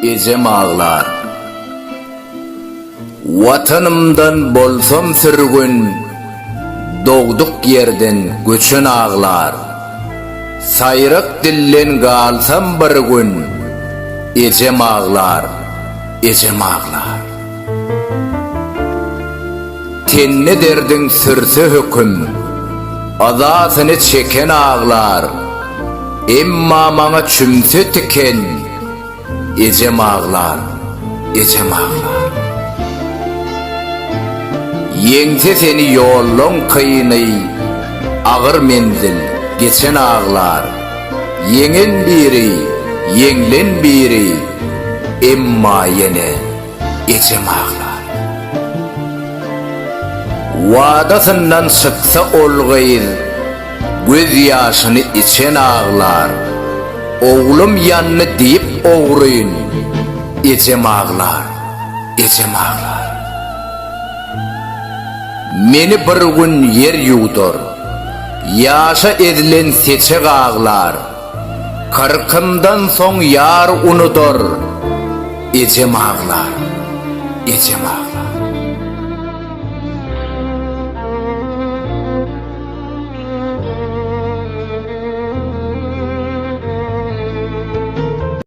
Ejem aglar. Watanymdan bolsam sürgün, Dogduk ýerden göçen aglar. Saýrak dilden galsam bir gün, Ejem aglar, ejem aglar. Tende derdiň sürse höküm, Yzasyny çeken aglar, Emma maňa çümse tiken, Ejem aglar, ejem aglar. Ýeňse seni ýollaň kyny, Agyr menzil geçen aglar, Ýeňen biri, ýeňlen biri, Emma ýene. ejem aglar. Wadasyndan çyksa ol gyz, göz ýaşyny içen aglar, oglum ýandy diýip ogryn, ejem aglar, ejem aglar. Meni bir gün ýer ýuwdar, ýaşa ezilen seçek aglar. Kyrkymdan soň ýar unudar, ejem aglar, ejem aglar.